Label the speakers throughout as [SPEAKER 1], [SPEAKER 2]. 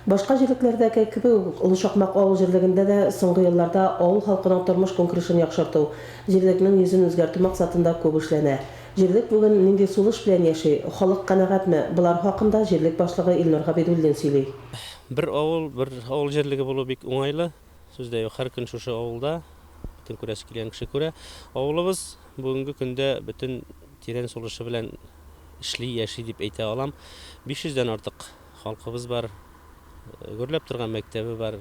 [SPEAKER 1] Башка җирлекләрдәге кебек үк, Олы Шакмак авыл җирлегендә дә соңгы елларда авыл халкының тормыш-көнкүрешен яхшырту, җирлекнең йөзен үзгәртү максатында күп эшләнә. Җирлек бүген нинди сулыш белән яши, халык канәгатьме, болар хакында җирлек башлыгы Илнур Габидуллин сөйли. Бер авыл,
[SPEAKER 2] бер авыл җирлеге булу бик уңайлы, сүз дә юк, һәр көн шушы авылда, бөтен күрәсе килгән кеше күрә. Авылыбыз бүгенге көндә бөтен тирән сулышы белән эшли, яши дип әйтә алам. 500 дән артык. Халкыбыз бар, гөрләп торган мәктәбе бар,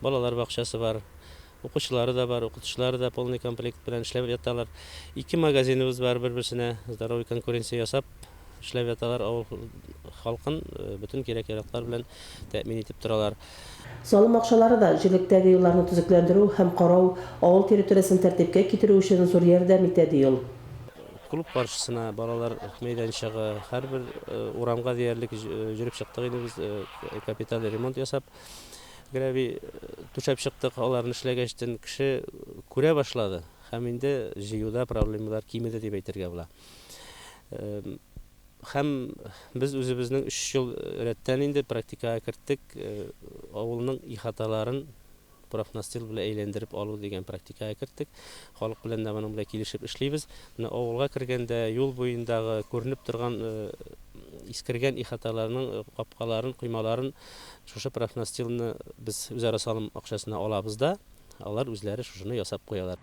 [SPEAKER 2] балалар бакчасы бар, укучылары да бар, укытучылары да полный комплект белән эшләп яталар. Ике магазиныбыз бар, бер-берсенә здоровый конкуренция ясап эшләп яталар, авыл халкын бөтен кирәк-яраклар белән тәэмин итеп торалар. Салым
[SPEAKER 1] акчалары да, җирлектәге юлларны төзекләндерү һәм карау, авыл территориясен тәртипкә китерү өчен зур ярдәм итә, ди ул. Клуб
[SPEAKER 2] каршысына балалар мәйданчыгы, һәрбер урамга диярлек җөреп чыктык инде без, капиталь ремонт ясап. Гравий түшәп чыктык, аларны эшләгәчтен кеше күрә башлады һәм инде җыюда проблемалар кимеде дип әйтергә була. Һәм без үзебезнең өч ел рәттән инде практикага керттек, авылның ихаталарын профнастил белән әйләндереп алу дигән практикага керттек. Халык белән дә моның белән килешеп эшлибез. Менә авылга кергәндә юл буендагы күренеп торган искергән ихаталарның капкаларын, коймаларын шушы профнастилны без үзара салым акчасына алабыз да, алар үзләре шушыны ясап куялар.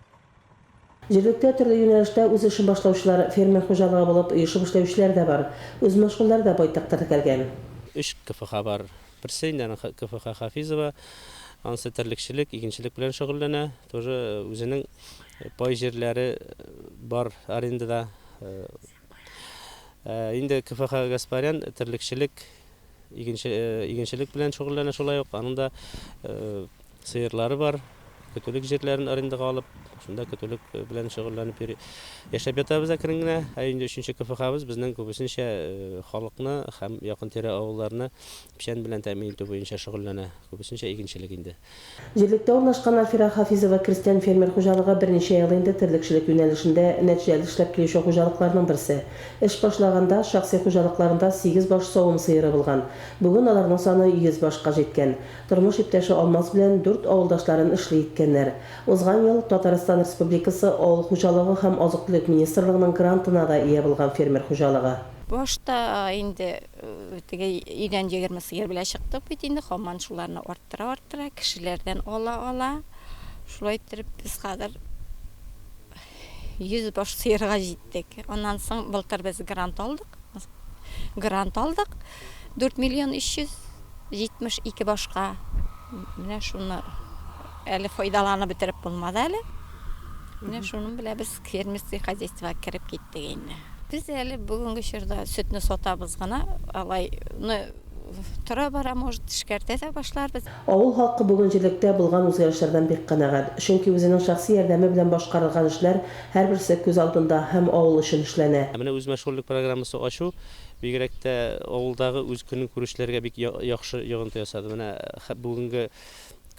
[SPEAKER 2] Җирлектә
[SPEAKER 1] төрле юнәлештә үз эшен башлаучылар, фермер хуҗалыгы булып оешып эшләүчеләр дә бар. Үзмәшгульләр дә байтак теркәлгән. Өч КФХ
[SPEAKER 2] бар. Берсе инде аның КФХ Хафизова. Анысы терлекчелек, игенчелек белән шөгыльләнә. Тоже үзенең пай җирләре бар арендада. Ә инде КФХ Гаспарян терлекчелек Игенче, игенчелек белән шөгыльләнә шулай ук. Аның да сыерлары бар. Көтүлек җирләрен арендага алып, шунда көтүлек белән шөгыльләнеп йөри. Яшәп ятабыз әкрен генә. Ә инде өченче КФХбыз безнең күбесенчә халыкны һәм якын-тирә авылларны печән белән тәэмин итү буенча шөгыльләнә. Күбесенчә игенчелек инде. Җирлектә урнашкан
[SPEAKER 1] Афира Хафизова крестьян-фермер хуҗалыгы берничә ел инде терлекчелек юнәлешендә нәтҗәле эшләп килүче хуҗалыкларның берсе. Эш башлаганда, шәхси хуҗалыкларында сигез баш савым сыеры булган. Бүген аларның саны йөз башка җиткән. Тормыш иптәше Алмаз белән дүрт авылдашларын эшли иткәннәр. Узган ел Татарстан Республикасы Авыл хуҗалыгы һәм азык-төлек министрлыгының грантына да ия булган фермер хуҗалыгы. Башта
[SPEAKER 3] инде Теге өйдән егерме сыер белән чыктык бит инде, хаман шуларны арттыра-арттыра, кешеләрдән ала-ала, шулай иттереп без хәзер йөз баш сыерга җиттек. Аннан соң былтыр без грант алдык. Грант алдык 4 миллион 372 башка. Менә шуны әле файдаланып бетереп булмады әле. Менә шуның белән без Фермерский хозяйствога кереп киттек инде. Без әле бүгенге чорда сөтне сатабыз гына, алай ны тора-бара, может, эшкәртә дә башларбыз. Авыл халкы бүген
[SPEAKER 1] җирлектә булган үзгәрешләрдән бик канәгать. Чөнки үзенең шәхси ярдәме белән башкарылган эшләр һәрберсе күз алдында һәм авыл өчен эшләнә. Ә менә үзмәшгульлек
[SPEAKER 2] программасы ачу, бигрәк тә авылдагы үз көнкүрешләргә бик яхшы йогынты ясады. Менә бүгенге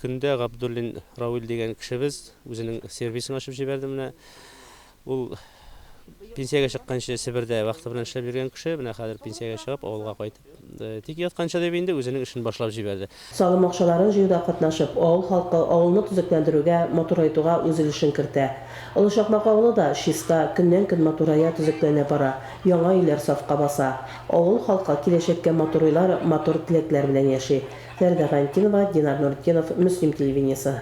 [SPEAKER 2] көндә Габдуллин Равил дигән кешебез Үзенең сервисын ачып җибәрде менә. Ул пенсиягә чыкканчы Себердә вахта белән эшләп йөргән кеше, менә хәзер пенсиягә чыгып, авылга кайтып, тик ятканчы дип инде үзенең эшен башлап җибәрде. Салым акчаларын
[SPEAKER 1] җыюда катнашып, авыл халкы авылны төзекләндерүгә, матурайтуга үз өлешен кертә. Олы Чакмак авылы да чиста, көннән-көн матурая, төзекләнә бара, яңа өйләр сафка баса. Авыл халкы киләчәккә матур уйлар, матур теләкләр белән яши. Фәридә Валентинова, Динар Нуретдинов, Мөслим телевидениесе.